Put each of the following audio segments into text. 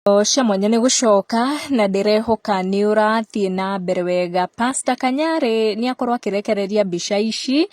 cia mwanya nĩ gũcoka na ndĩrehoka nĩ ũrathiĩ na mbere wega pasta kanyarĩ nĩ akorwo akĩrekereria mbica ici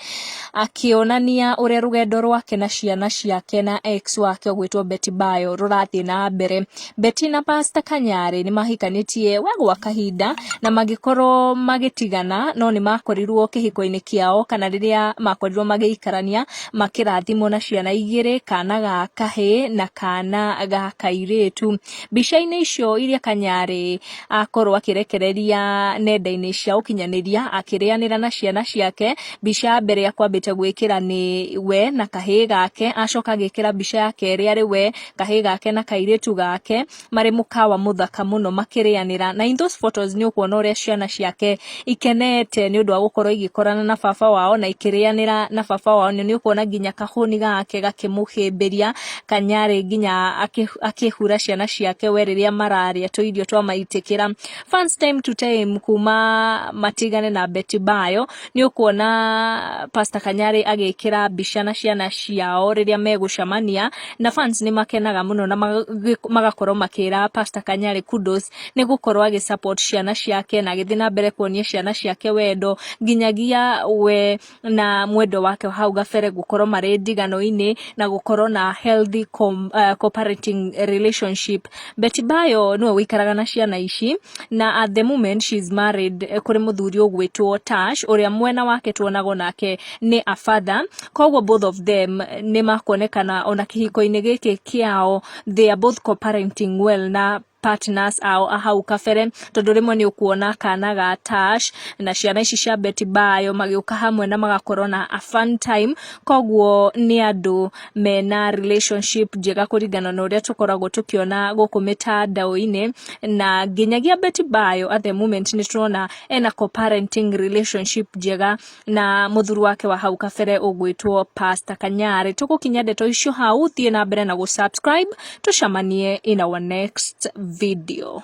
akĩonania ũrĩa rũgendo rwake na ciana ciake na ex wake ũgwĩtwo beti bayo rũrathiĩ na mbere beti na pasta kanyarĩ nĩ mahikanĩtie we gwa kahinda na magĩkorwo magĩtigana no nĩ makorirwo kĩhiko-inĩ kĩao kana rĩrĩa makorirwo magĩikarania makĩrathimwo na ciana igĩrĩ kana ga kahĩ na kana ga kairĩtu. Mbica-inĩ icio iria Kanyarĩ akorwo akĩrekereria nenda-inĩ cia ũkinyanĩria akĩrĩanĩra na ciana ciake, mbica ya mbere akwambĩte gwĩkĩra nĩ we na kahĩ gake, acoka agĩkĩra mbica ya kerĩ arĩ we, kahĩ gake na kairĩtu gake, marĩ mũkawa mũthaka mũno makĩrĩanĩra na in those photos nĩ ũkuona ũrĩa ciana ciake ikenete nĩ ũndũ wa gũkorwo igĩkorana na baba wao na ikĩrĩanĩra na baba wao nĩ ũkuona nginya kahũni gake gakĩmũhĩmbĩria kanyarĩ nginya akĩ- akĩhura ciana ciake we rĩrĩa mararĩa tũirio twa maitĩkĩra fans time to time kuma matigane na beti bayo nĩ ũkuona pasta kanyarĩ agĩkĩra mbica na ciana ciao rĩrĩa megũcamania na fans nĩ makenaga mũno na magakorwo makĩra Pastor Kanyarĩ kudos nĩ gũkorwo agĩ support ciana ciake na agĩthiĩ na mbere kuonia ciana ciake wendo nginyagia we na mwendo wake hau gabere gũkorwo marĩ ndigano-inĩ na gũkorwo na healthy com, uh, cooperating relationship Beti Bayo nĩwe wĩikaraga na ciana ici na at the moment she is married eh, kũrĩ mũthuri ũgwĩtwo Tash ũrĩa mwena wake tuonago nake nĩ a father koguo both of them nĩ makuonekana ona kĩhiko-inĩ gĩkĩ kĩao they are both co-parenting well na partners ao a hau kabere tondũ rĩmwe nĩ ũkuona kana ga Tash na ciana ici cia Beti Bayo magĩũka hamwe na magakorwo na a fun time koguo nĩ andũ mena relationship njega kũringana na ũrĩa tũkoragwo tũkĩona gũkũ mĩtandao-inĩ na nginyagia Betty Bayo at the moment nĩ tũrona ena co-parenting relationship njega na mũthuri wake wa hau kabere ũgwĩtwo Pastor Kanyarĩ tũgũkinya ndeto icio hau thiĩ na mbere na gũ subscribe tũcamanie in our next video